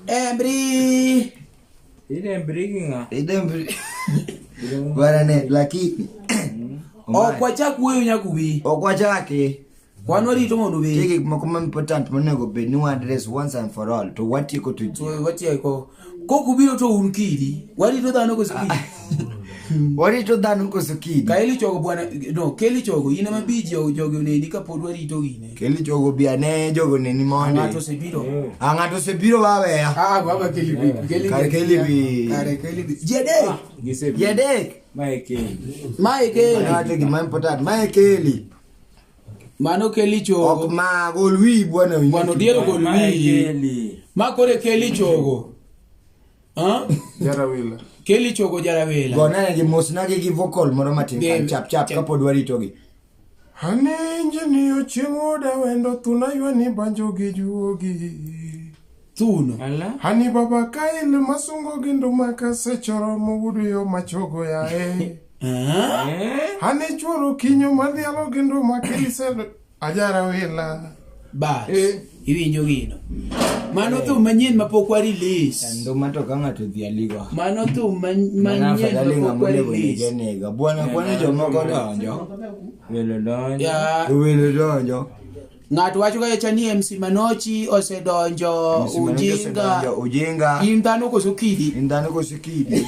Embri. Ile mbriginga. Ile mbri. Bwana ne lakini. Okwacha kuyo nyakubi. Okwacha ke. Kwano rito mondo be. Tiki moko important monego be ni one address once and for all to what you go to. To what you go. Kok ubiro to un kidi. Warito dhano koso kidi. warito dhano koso kidi. Ka eli chogo bwana no keli chogo ine ma bi jogo jogo neni ka pod warito ine. Keli chogo bi ane jogo neni mondi. Ng'ato se biro. A ng'ato se biro wawe ya. Ah baba keli bi keli. Kare keli bi. Kare keli bi. Jede. Gise bi. Jede. Mae keli. Mae keli. Mae keli. Mae keli. Mano keli chogo. Ok ma gol wi bwana wi. Bwana odiero gol wi. Ma kore keli chogo. Ha? Jarawila. Keli chogo jarawila. Gona gi mos na gi vocal moro matin kan chap chap kapod warito gi. Hane injini ochieng' oda wendo thuna ywani banjo gi juogi. thuno Ala. hani baba kail masungo gi nduma kasechoro mowudu yo machogo yae Ah, Eh? hani chworo kinyo madhialo gi nduma kilisel ajara wila bas Eh. iwinjo gino mano thum manyien mapok wa release nduma to ka ng'ato dhi aligo mano thum man- mana manyien afadhali mapok ng'ama wa onego release negenega bwana kwani jomoko donjo Welo donjo. ya welo donjo Ng'ato wacho ga cha ni MC Manochi osedonjo Msimamizi ujinga. osedonjo ujinga In dhano koso kidi? in dhano koso kidi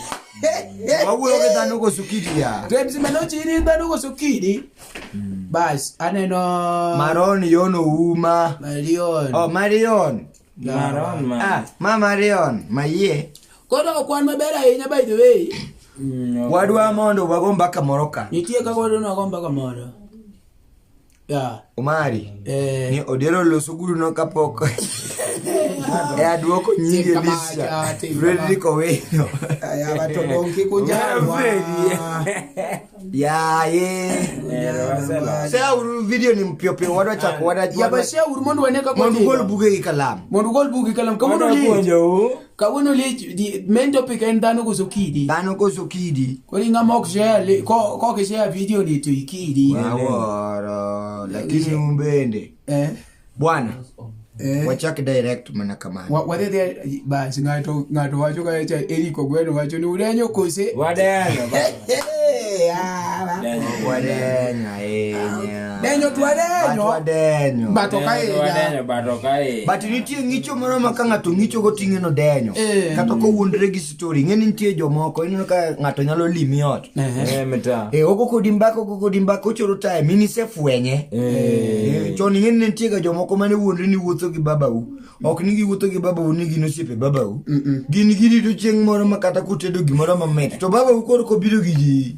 wawuoyo gi dhano koso kidi ya To MC Manochi in in dhano koso kidi? Bas aneno maron yono uma Marion. oh marion Maron man. ah ma marion mayie Koro ok wan maber ahinya by the way. Mm, ok. wadwa mondo wago mbaka moro ka Nitie kaka wadwa nwago mbaka moro. Yeah. Omari. Eh. Ni odiero loso guru no kapok. e aduoko nyingi e lista. Frederick Owino. Ya bato bonki kujawa. Ya ye. Sasa uru video ni mpio pio wadwa chako wadwa. Ya basi uru mondo waneka kwa. Mondo gol buge kalamu. Mondo gol buge kalamu. Kama ndo ni. kawuono lich the main topic en dhano koso kidi dhano koso kidi koro ing'a mok share li- ko- kok share video ni to ikidi aworo lakini un bende eh bwana eh wachak direct mana kamano Wa- wadhi dhi bas ng'ato ng'ato wacho ka cha Eric Ogweno wacho ni udenyo kose Wadenyo, baba. Eh, ah, Wadenyo ahinya. denyo twadenyo wadenyo bato ka Denyo, higa denyo, bato ka higa. but nitie ng'icho moro ma ka ng'ato ng'icho goting'e no denyo Eh. kata kowuondre gi story ing'e ni nitie jomoko ineno ka ng'ato nyalo limi ot Ehe. Eh, mita. Eh, oko kodi mbaka oko kodi mbaka ochoro time in isefwenye Eh. Eh, chon ing'e ni ne nitie ga jomoko mane wuondre ni wuotho gi babau ok ni giwuotho gi babau ni gin osiepe babau gin girito chieng' moro ma kata kutedo gimoro mamit to babau koro kobiro gi ji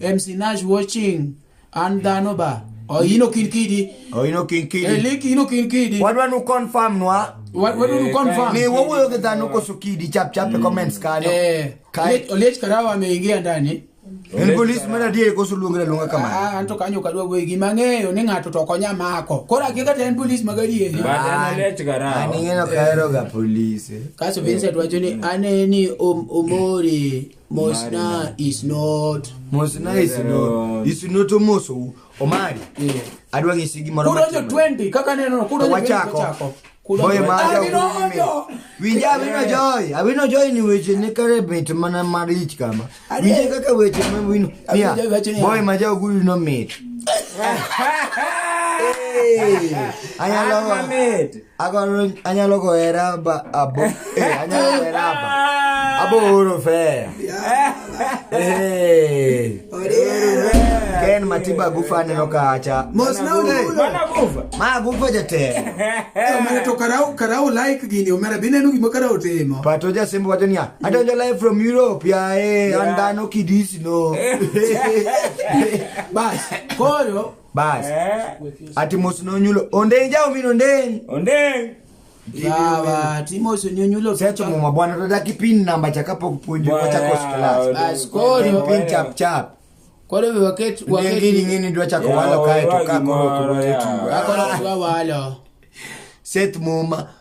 en sinaj watching an dhano ba oino kin kidi Oino kin kidi. elik ino kin kidi Wadwa nu confirm nwa wadonu confirm ni wawuoyo gi dhano koso kidi chap chap e comments kanyo. eh Kai- Olech- olech karawa ameingia ndani En police mar adier koso luongra luonga kamano. Ah, an to kanyo kadwa wuoyo gi mang'eyo ni ng'ato to ok onya mako koro akia kata en polis magadieri But an olech An karawa. ing'eno kaheroga police. eh. kaso vincent wacho ni aneni om- omori Mosna is not. Mosna is not. Is not omoso. Omari. Yeah. Adwa ng'isi gimoro. Kudo jo 20 kaka neno kudo jo 20 wachako. Boy maja kudo. Winja abino joy. Abino joy ni weche ne kare mit mana marich kama. Winja kaka weche ma wino. Mia. Boy maja kudo no mit. Hey. Ayalo. Ayalo mit. Agora anyalo goera ba abo. Eh, anyalo goera aba. Abo oro fe. Eh. Ken matiba gufa neno kacha. Mos na ulo. Mana kufa. Ma gufa jate. Omera to karau karau like gini omera bineno gima karau timo. Pato ja simbo wacho niya. Adonjo live from Europe ya eh. Yeah. Andano kidisi no. Bas. Koro bas ati mos nonyulo ondeng jao min ondeng ondeng Sawa, Timos onyonyulo secho muma bwana tadaki pin namba cha kapok puonjo Bwana, wachako class Bas, koro. pin pin chap chap koro be waket ngini waket ngini dwa chako Ya, walo kae to wawagi ka koro moro, kuro ya. tetu akoro kwa walo seth muma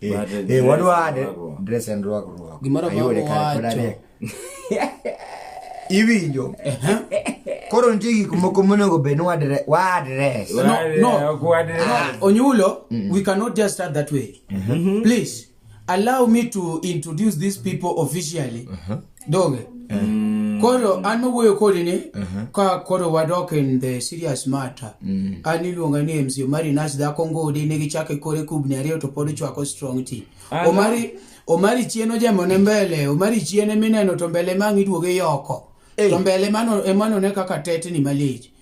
Eh, But the eh, dress wadwade rwako. dress and rwak rwak Gimoro ma Ayude kar owacho. kodare. iwinjo koro nitie gik moko monego bed ni wadre- wadres No, Wale, no. ok wadre. Onyulo, we cannot just start that way. Please allow me to introduce these people officially. doge mm. koro an mawuoyo kodi ni uh-huh. ka koro wadok in the serious matter mm. an iluonga ni mc omari nas dhako ngodi ne gichake kore kubni ariyo to pod chwako strong tea omari omari chien ojemone mbele omari chien emineno to mbele mang' iduoge yoko to mbele emano ne kaka tetni malich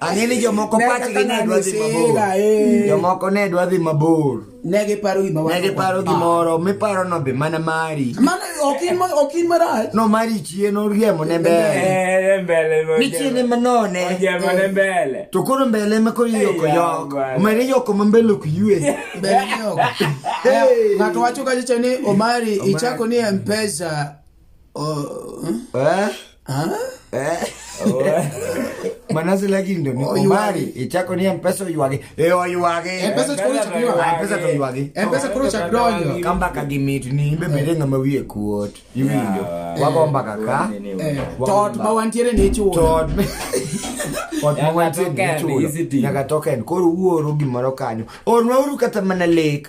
Ang'e ni jomoko Ne pachgi kaka ne ng'ani dwa dhi sila, mabor. eh. Jomoko ne dwa dhi mabor. Ne giparo gima Ne wan- giparo Ah. gimoro miparo no be mana mari. Mano ok in ma- ok in marach. No mari chien oriemo ne mbele. Eh, mbele mo Ni chien ema none. Ojemo ne mbele. To koro mbele ema koro iyoko Eya, yok. bwana. Omere yoko ma mbele ok yue. Mbele ni oko. Hey. Ng'ato wacho kacha ni Omari ichako ni Mpesa Oh, Eh? ah? Eh? Mana si lagi ndo ni Oyuagi. kumari. Ichako ni mpesa oyuagi. Eh oyuagi. M-Pesa chukuru cha kiwa. Ah, mpesa to oyuagi. M-Pesa koro chak donjo. Kamba ka gimit ni be mere ngama wiye kuot. Iwinjo. Yeah. Wagomba kaka. Eh, Tot ma wantiere ni ichulo. Tot. Ot ma Nyaka wantie token, ni chulo. easy deal. Nyaka token. Koro uoro gimoro kanyo. Orwa uru kata mana lek.